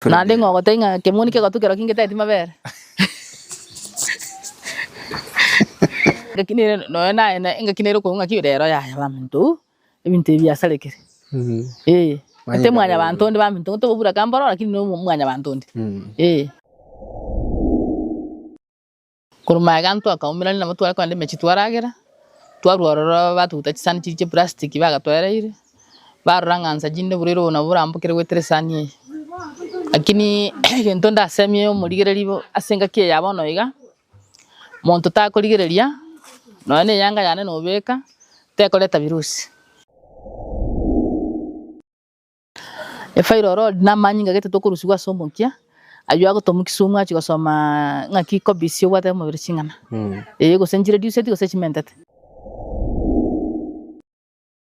Naende ng'a ogotebia ng'a kemoni kegotu kerokio ngeteti mabere. Engaki nere nonya naye na engaki nere okoigwa ng'aki rero yaya baminto uu ebinto ebi biasarekire. Ee. Gete mwanyabanto onde baminto uu tobobura kamboro lakini no mwanyabanto onde. Ee. Korwa magega ntwakaumerania nabo tware kogenda emechie twaragera, twarwa ororo batuguta chisani chiria chia eprastiki bagatoereire, barora ng'a nsa chinde buru ere oyo nabo orambokere goetera esani eye. Lakini egento ndasemie omorigereria bo ase engaki eye ya bono iga, monto takorigereria nonya na eyanga yane nobeka, tekoreta virusi. Efa ere orori namanyinga gete tokorusigwa ase omokia, aywo agotoma kisumu achie gosoma ng'aki kobisia obwate omobere ching'ana. Ee gose nchire diuseti gose chimentete.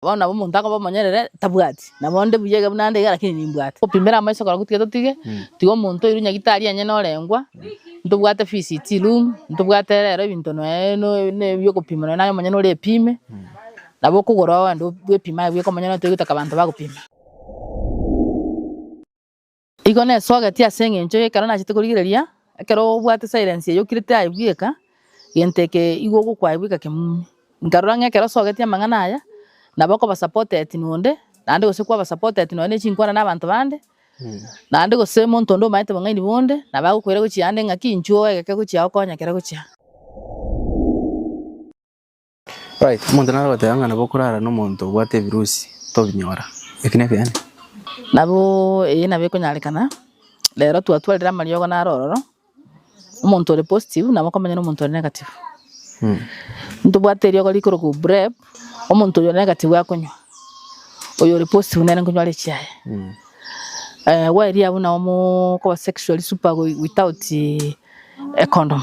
Bono nabo omonto akoba omonyerere tabwati, nabo onde buya iga buna ande iga lakini nimbwate. Gopimera amaiso korokwo tiga totige, tiga omonto oirwe nyagitari onye norengwa, ntobwate visit room, ntobwate rero ebinto noe no no ebiokopima noe naye omonyene ore epime, Nabo okogora ogende bwepime aye bwekomanya nonya toigwete aka abanto bagopima. Igo nesogetie ase engencho ye ekero nachete korigereria, ekero obwate silence eye okirete aye bweka, gento eke igo ogokwa aye bweka kemumi. Nkarora ng'a ekero osogetie amang'ana aya, nabo okoba supported nonde, naende gose kwaba supported nonye ne chinkwana na abanto bande, naende gose omonto onde omanyete bong'aini bonde, nabo agokoira gochia ande ng'aki inchuo egeke gochia okonye ekero gochia. Omonto nare goteba ng'a nabo okorara nomonto obwate ebirusi, tobinyora. Eki nekeene. Nabo eye nabo ekonyarekana, rero twatwarire amariogo naro ororo, omonto ore positive nabo okomenya na omonto ore negative. Ntobwate eriogo rikorokwa PrEP, omonto oyo ore negative akonywa, oyo ore positive nere nkonywa are echiaye. Gwaeria abwo nabo mokoba sexually super without a condom.